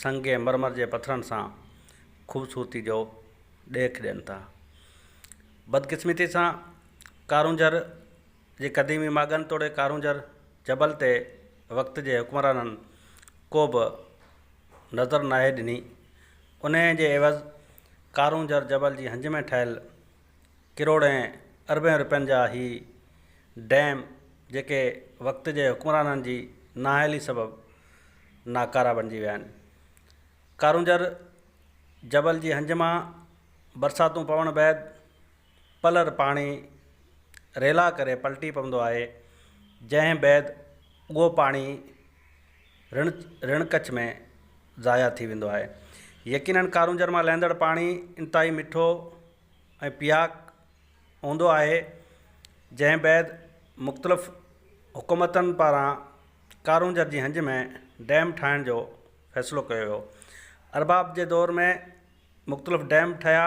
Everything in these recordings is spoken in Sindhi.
سنگ ۽ مرمر جي پٿرن سان خوبصورتي جو ڏيک ڏين ٿا. بدقسمتي سان ڪارونجهر جي قديمي ماڳن توڙي ڪارونجهر جبل تي وقت جي حڪمرانن ڪو به نظر ناهي ڏني. انهيء جي عيوض ڪارونجهر جبل جي هنج ۾ ٺهيل ڪروڙين اربين روپين جا هي ڊيم جيڪي وقت جي حڪمرانن جي نااهلي سبب ناڪارا بنجي ويا آهن ڪارونجهر جبل جي هنج مان برساتون پوڻ بعد پلر پاڻي ريلا ڪري پلٽي پوندو آهي جنهن بعد اهو پاڻي رڻ رڻ ڪڇ ۾ ضايع ٿي ويندو آهي. يقينن ڪارونجهر مان لهندڙ پاڻي انتهائي مٺو ۽ پياڪ هوندو آهي جنهن بعد مختلف حڪومتن پاران ڪارونجهر جي هنج ۾ ڊيم ٺاهڻ جو فيصلو ڪيو ويو. ارباب جي دور ۾ مختلف ڊيم ٺهيا.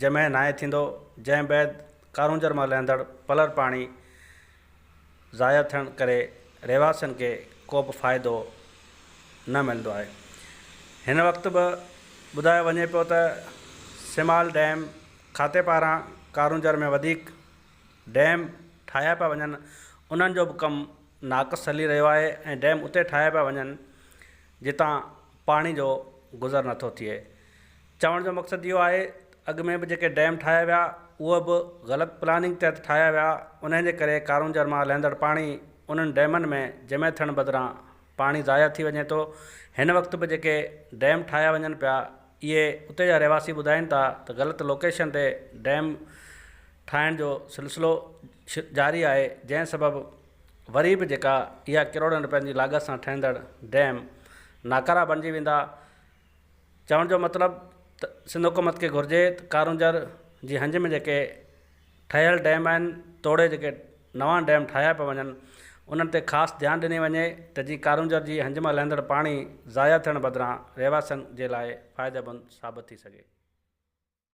جمعي ناهي ٿيندو، جنهن بعد ڪارونجهر مان لهندڙ پلر پاڻي ضايع ٿيڻ ڪري رهواسين کي ڪوبه فائدو نه ملندو آهي. هن وقت به ٻڌايو وڃي پيو ته سيمال ڊيم کاتي پاران ڪارونجهر ۾ وڌيڪ ڊيم ٺاهيا پيا وڃن انهن جو به ڪم ناقص هلي رهيو آهي ۽ ڊيم اتي ٺاهيا پيا وڃن جتان پاڻي جو گذر نٿو ٿئي. چوڻ جو مقصد اهو آهي اڳ ۾ به جيڪي ڊيم ٺاهيا ويا اهي به غلط پلاننگ تحت ٺاهيا ويا انهي جي ڪري ڪارونجهر مان لهندڙ پاڻي انهن ڊيمن ۾ جمع ٿيڻ بدران پاڻي ضايع ٿي وڃي ٿو هن وقت به جيڪي ڊيم ٺاهيا وڃن پيا اهي اتي جا رهواسي ٻڌائين ٿا ته غلط لوڪيشن تي ڊيم ٺاهڻ جو سلسلو جاري آهي جنهن سبب وري به جيڪا اها ڪروڙن رپين جي لاڳت سان ٺهندڙ ڊيم ناڪارا بڻجي ويندا چوڻ جو مطلب ته سنڌ حڪومت کي گهرجي ته ڪارونجهر جي هنج ۾ جيڪي ٺهيل ڊيم آهن توڙي جيڪي نوان ڊيم ٺاهيا پيا وڃن انهن تي خاص ڌيان ڏني وڃي ته جي ڪارونجهر جي هنج مان لهندڙ پاڻي ضايع ٿيڻ بدران رهواسين جي لاء فائديمند ثابت ٿي سگهي.